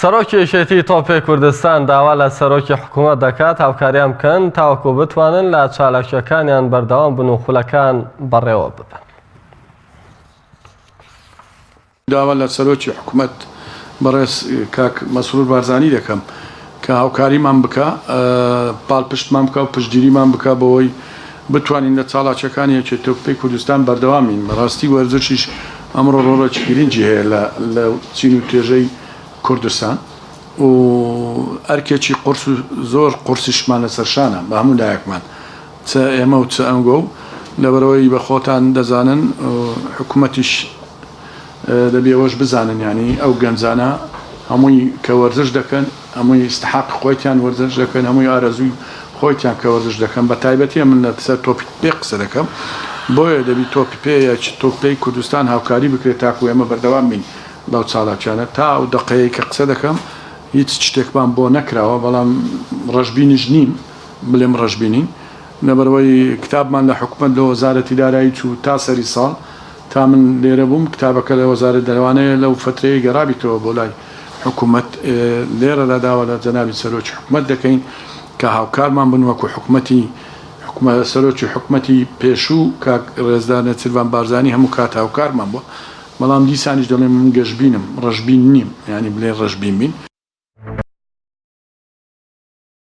سەرۆکی یەکێتیی تۆپی کوردستان داوا لە سەرۆکی حکوومەت دەکات هاوکاریان بکەن تاوەکو بتوانن لە چالاکییەکانیان بەردەوام بن و خولەکان بەڕێوە ببەن. داوا لە سەرۆکی حکوومەت بەڕێز کاک مەسرور بارزانی دەکەم، کە هاوکاریمان بکا، پاڵپشتمان بکا و پشتگیریمان بکا بەوەی بتوانین لە چاڵاچیەکانی یەکێتیەوپپەی کوردستان بەردەوام بین، بەڕاستی وەرزشیش ئەمڕۆ ڕۆڵێکی گرنگی هەیە لە لە چین و توێژەی کوردستان و ئەرکێکی قورس و زۆر قورسیشمان لەسەر شانە بە هەموو لایەکمان چ ئێمە و چ ئەنگۆ و لەبەرئەوەی بە خۆتان دەزانن حکومەتیش دەبی ئەوەش بزانن یانی ئەو گەنجانە هەمووی کە وەرزش دەکەن هەمووی ئیستحاق خۆیتان وەرزش دەکەن هەمووی ئارەزووی خۆیتان کە وەرزش دەکەن بە تایبەتیە من لە سەر تۆپی پێ قسە دەکەم بۆیە دەبی تۆپی پێ یا چ تۆپ پێی کوردستان هاوکاری بکرێت تاکو ئێمە بەردەوام بین بەو چالاکیانە تا ئەو دەقەیەی کە قسە دەکەم هیچ شتێکمان بۆ نەکراوە بەڵام ڕەشبینیش نیم بلێم ڕەشبینین لەبەرئەوەی کتابمان لە حکومەت لە وەزارەتی دارایی چوو تا سەری ساڵ تا من لێرە بووم کتابەکە لە وەزارەت دەروانەیە لەو فەترەیەی گەڕابیتەوە بۆ لای حکومەت لێرەدا داوا لە جەنابی سەرۆکی حکومەت دەکەین کە هاوکارمان بن وەکو حکومەتی سەرۆکی حکومەتی پێشوو کاک ڕێزدار نێچیرڤان بارزانی هەموو کات هاوکارمان بووە بەڵام دیسانیش دەڵێم من گەشبینم ڕەشبین نیم یانی بلێن ڕەشبین بین.